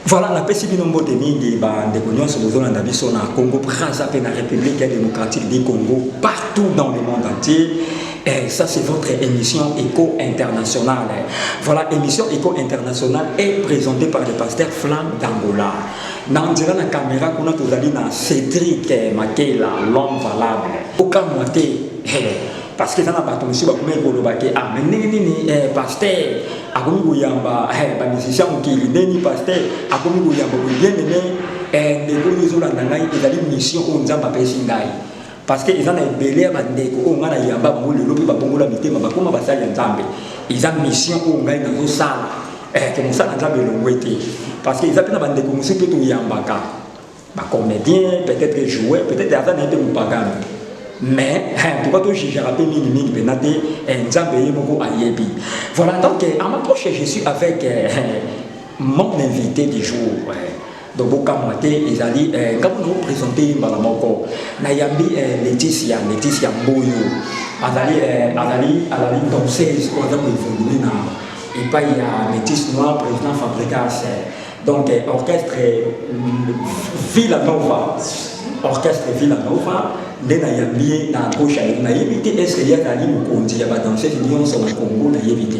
Voilà, la pesi bino mbote mingi ba ndeko nyonso bozolanda biso na Congo Brazza pe na République démocratique du Congo partout dans le monde entier. Eh, ça c'est votre émission Eco International. Voilà, émission Eco International est présentée par le pasteur Flan d'Angola. Dans la caméra, on a tout dans Cédric eh, Makela, l'homme valable. Aucun moitié. parce que eza na bato mosusu bakomaki koloba te ah me ndenge nini eh, paster akomi koyamba eh, bamusicien mokili nde nini paster akomi koyamba bobienene eh, ndeko oyo ezolanda ngai ezali mission oyo nzambe apesi ngai Parce que eza na ebele ya ba ndeko oyo nga na yamba bango lelo pe ba bongola mitema ba koma basali ya Nzambe. Eza mission oyo ngai na zo sala. Eh que mosala Nzambe elongwe te. Parce que eza pe na ba ndeko mosusu pe to yambaka. Ba comediens, peut-être joueurs, peut-être aza na ye pe mopagano. mais pourquoi to jugeaka mpe mingi mingi mpena te nzambe ye moko ayebi voilà donc en approche je suis avec mon invité du jour donc bokamwa te ezali eh, ngambo na opresente ye mbala moko nayambi eh, leticia leticia mboyo azali eh, azali azali danseuse oyo aza koevolue na epai ya métis noir président fabricas donc orchestre mm, villa nova orchestre villa nova nde nayambi ye na gauche nayebi te est ce que ye azali mokonzi ya badanseuse nyonso na congo nayebi te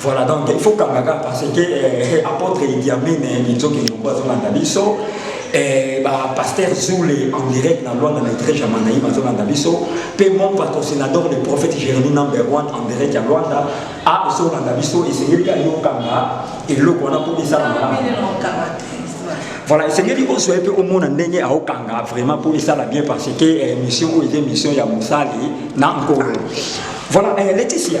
Voilà donc il faut kangaka parce que euh, apôtre Idi Amin Minzoki eh, Ndombo azolanda biso eh, ba pasteur Zule en direct na Luanda na Igreja Manaïm azolanda biso pe mon patrocinador le prophète Jérémie number 1 en direct ya Luanda a azolanda biso esengeli ka yo kanga eloko wana po esala malamu voilà esengeli ozwa ye mpe omona ndenge aokanga vraiment mpo esala bien parce que eh, mission oyo eza mission ya mosali na nkolo voilà eh, leticia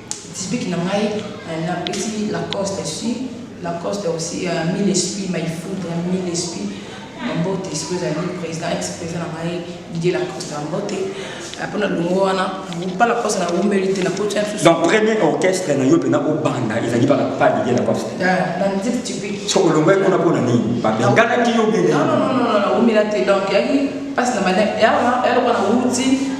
Disbik na ngai na pesi lacoste su lacoste aussi uh, mille esprit my food na mille esprit na mbote sikoyo ezali président ex président na ngai didier lacoste na mbote mpo na longo wana mpa lacoste na wumeli te na koti mosusu donc premier orchestre na yo mpena obanda ezali mpa pa didier lacoste na nzete typique so olongwai kuna mpo na nini babenganaki yo bene na wumela te donc yaki mpasi na mane yalokola na wuti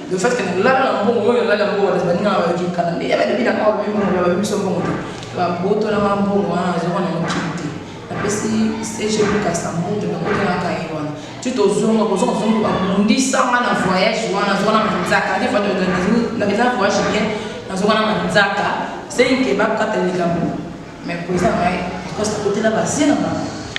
le fait que nalala na mbongo oyo nalala mbongo wana baninga na bayoki nkana nde yaba lobi na awa babi mbongo babi biso mbongo te babotolanga mbongo wana nazoko na mokili te napesi cg lukasa mbongo nakotelaka ye wana ti tozonga kozonga zongo babundisanga na voyage wana nazoka na manzaka te eza voyage bien nazoka na manzaka senke bakata likambo mais poeza ngai akosa kotela basi na bango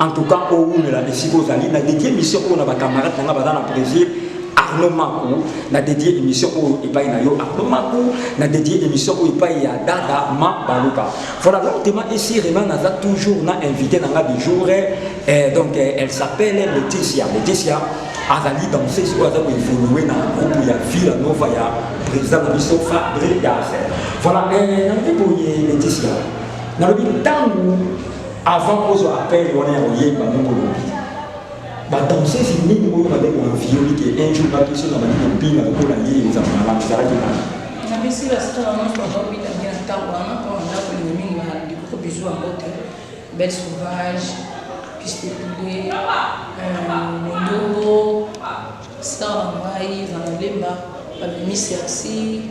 En tout cas, au bout de la décision, vous allez, la dédiée mission pour nos camarades, nous avons dans le Brésil, Arnaud Makou, la dédiée émission pour Ipaï Nayo, Arnaud Makou, la dédiée émission pour Ipaï ya Dada Ma Baluka. Voilà, donc, Tema ici, Renan a toujours na invité dans la du jour, et donc, elle s'appelle Laetitia. Laetitia, azali danseuse oyo aza koevolue na groupe ya villa nova ya président na biso fabrigas voilà eh, nalobi boye leticia nalobi ntango Avant ozo appel wana ya koyemba moko lobi ba danseuse mingi oyo bande ko enviole ke un jour ba biso na bandi kopinga lokola ye ezala malamu ezalaki nani na biso ya star na mpo ba bita bien ntango wana mpo na ndako lingi mingi na likoko bizu ya mbote belle sauvage piste poulet mondongo star na ngai ezala lemba babimi sersi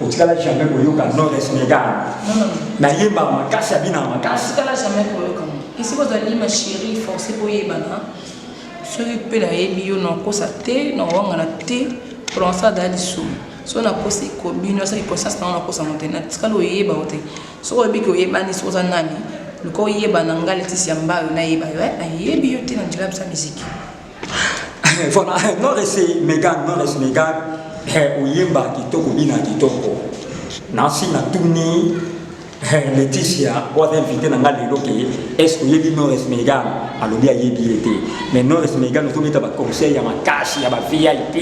otikala jamais koyoka nores megan nayembaka makasi abinaka makasi otikala jamais koyoka esika ozali ma chérie forcé boyebana soki mpe nayebi yo nakosa te nawangana te polonsa azala lisumu so nakosi kobino asaki conscience nango nakosango te natikali oyeba yo te soki oyebi ke oyebani soki oza nani luka oyeba na ngai letisi ya mbayo nayeba yo eh, nayebi yo te na njela bisa miziki voilà non ese megan non ese megan oyemba kitoko bina kitoko nasi natuni leticia oaza invité na ngai lelo ke estce oyebi nores megan alobi ayebi ye te mais nores megan ozobeta baconseil ya makasi ya ba vip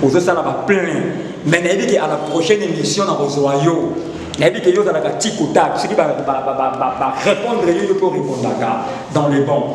ozosala baplein mais nayebi ke à la prochaine émission nakozwa yo nayebi ke yo ozalaka tikotak soki barépondre yo yo mpe orépondaka dans le bon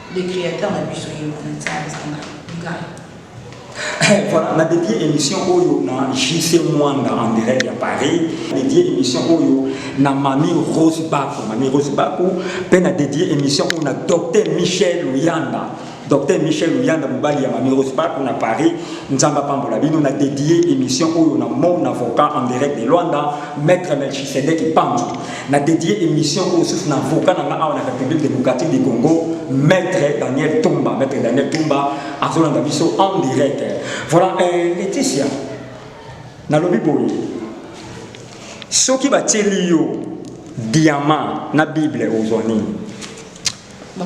le createur na biso ye wana nzambe eza ngai ngai voilà na dédié émission oyo na jc mwanda en direct ya paris dédié émission oyo na mami rose bako mami rose bako mpe na dédié émission oyo na docteur michel luyanda docteur michel luyanda mobali ya mami rose bako na paris nzambe apambola bino na dédié émission oyo na mon avocat en direct de luanda maître melchisedeki panzo na dedier émission oyo susu na avocat na nga awa na république démocratique du congo maître daniel tumba maître daniel tumba azolanda biso en direct voilà euh, laetitia nalobi boye soki batieli yo diamant na bible ozwa nini bon.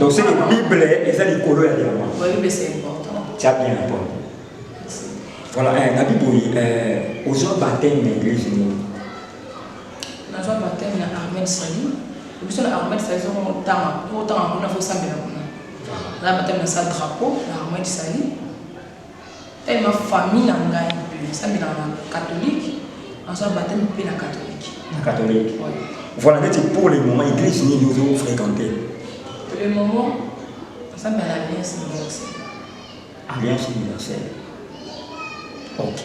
Donc c'est que Bible eza likolo ya diamant. Oui, mais c'est important. Tu as bien répondu. Voilà, eh, na Bible euh, ozwa baptême na église nini? Nazwa baptême na Armel Sali. Biso na Armel Sali soko motanga, motanga kuna fo sambela kuna. Na baptême na sa drapeau na Armel Sali. Tellement famille na ngai mpe esambelaka na catholique, nazwa bapteme mpe na catholique. Na catholique. Voilà, neti pour le moment église nini ozo fréquenter? Pour le moment, nasambela na Alliance Universelle. Alliance Universelle. OK.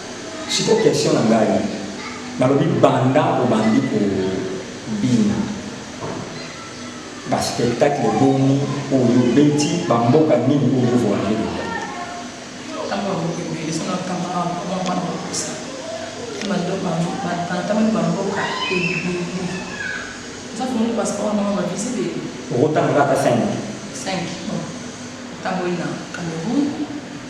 Sikoyo question na ngai nalobi banda obandi kobina baspectacle boni oyo obeti bamboka nini oyo voyage okotanga kaka 5 5 tango ina cameroun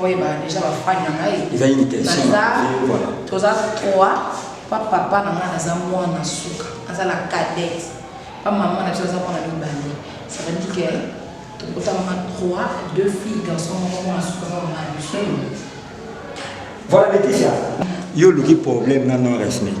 Boyeba deja bafani na ngai ezali nitebaza toza trois pa papa na ngai naza mwana suka aza la cadette pa mama na biso aza mwana mibale ça veut dire que tokotamama trois deux filles garçon moko mwana suka na mama na biso voilà Laetitia yo oluki problème na non respect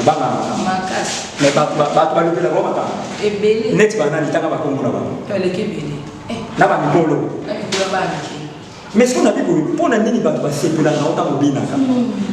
obanga makasi me bato balobela bango makambo ebele neti banani tanga bakombo na bango eleki ebele eh. na bamikolo na mikolo banike mais soki nabi boye mpo na nini bato basepelaka ntango obinaka hmm.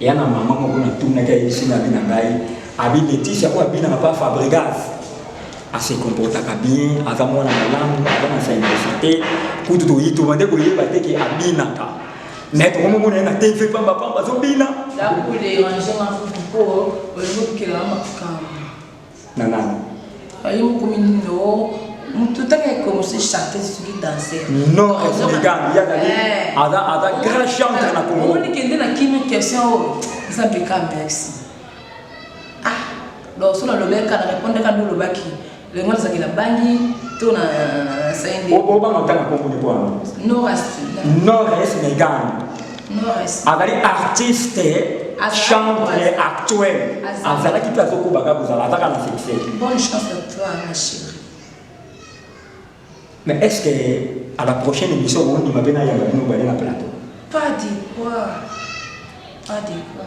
ya na mama moko natunaki ayebisi nga abi na ngai abi leticia oyo abinaka mpa fabrigas ase comportaka bien aza mwana malamu aza na saindosa te kutu toyi tobande koyeba te ke abinaka me tokomomona ye na tv pamba pamba azobina na nani ayo mokomi nini o moto otanga ekomisi chanteuse soki danser non regan ya na ye aza aza grand chanteur na congo omoni kende na kimi question oyo eza beka merci ah donc so nalobeka na répondre ka ndolobaki lengo nazaki na bangi to na sainde obanga otanga kombo ni bwana norest norest megane azali artiste chantre actuel azalaki mpe azokobaka kozala azaka na succès mais est ce que à la prochaine émission ondima mpe nayamba bino bale na plateau pas de quoi pas de quoi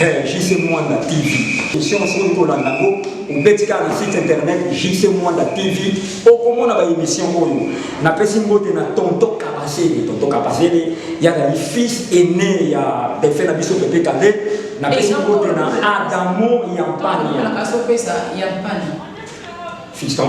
Eh, JC Mwanda TV. Question oyo kolanda yango obeti kaka na site internet JC Mwanda TV okomona baémission oyo. Napesi mbote na tonto Kabasele. Tonto Kabasele yazali fils aîné ya defe na biso Pepe Kale. Napesi eh, mbote na Adamo Yampania. Fiston.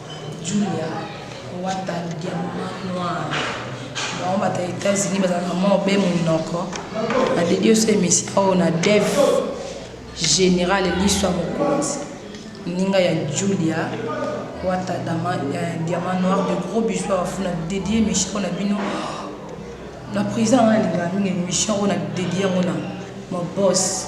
Julia wata diamant noir bango bata Etats-Unis bazalaka mwa obe monoko na dedi oso emission oyo na dev général liso ya mokonzi ninga ya Julia wata eh, diamant noir de gros bisous afuna dedi emission na bino na président wana alingaka mingi emission oyo na dedi yango na mobos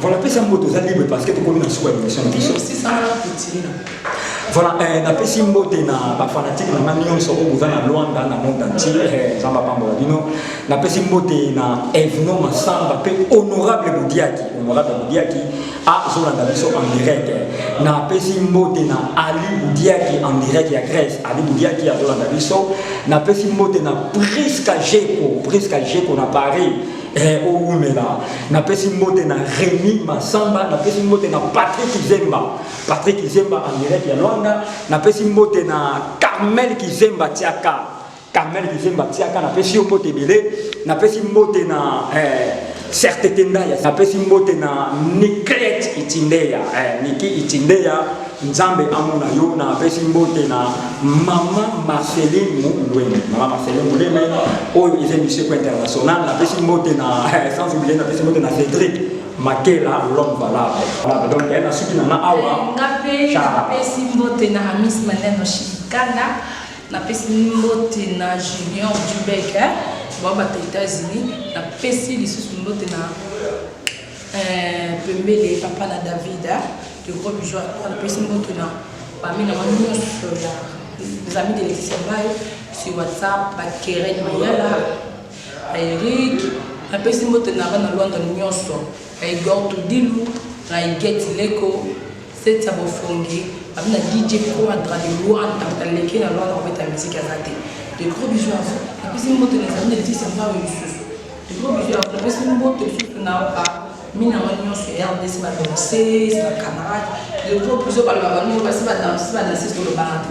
Voilà, pesa mboto oza libre parce que tokomi na suka ya émission na biso. Voilà, eh, napesi mbote na bafanatike na ngai nyonso oyo boza na Luanda na monde entier, eh, Nzambe apambola bino. Napesi mbote na Evno Masamba mpe Honorable Bodiaki, Honorable Bodiaki azolanda biso en direct napesi mbote na ali budiaki en direct ya grèce ali budiaki azolanda biso napesi mbote na priska jeko priska jeko na paris eh, owumela napesi mbote na remi masamba napesi mbote na patrik zemba patrik zemba en direct ya lwanda napesi mbote na carmel kizemba tiaka Carmel Kizemba Tiaka, napesi yo mbote ebele, napesi mbote na eh, Serte Tendaya, napesi mbote na Niklet Itindeya, eh, Niki Itindeya, Nzambe amona yo, napesi mbote na Mama Marceline Mulweme, Mama Marceline Mulweme, oyo eza emission ko international, napesi mbote na, eh, sans oublier, napesi mbote na Cedric Makela l'homme valable. Donc, eh, nasuki na nga awa. Nga pe, Chara. napesi mbote na Amis Maneno Shikana. Napesi mbote na Junior Dubec eh, babata Etats-Unis. Napesi lisusu mbote na eh, Pembele papa na David eh, le gros bijou. Napesi mbote na bami na bango nyonso ya les amis de Laetitia Mbaye sur WhatsApp, Bakeren Mayala, Eric. Napesi mbote na bana London nyonso. I go to dilu ngai get leko seti ya bofongi abi na dj quadra de luanda aleki na luanda kobeta miziki aza te de gros bisous à vous napesi mbote na ezali na tisi mbawe lisusu de gros bisous à vous napesi mbote lisusu na ba mina ngo nyonso ya rdc ba danseuse ba camarade de gros bisous balobaka nini basi badanse badanseuse tolobaka te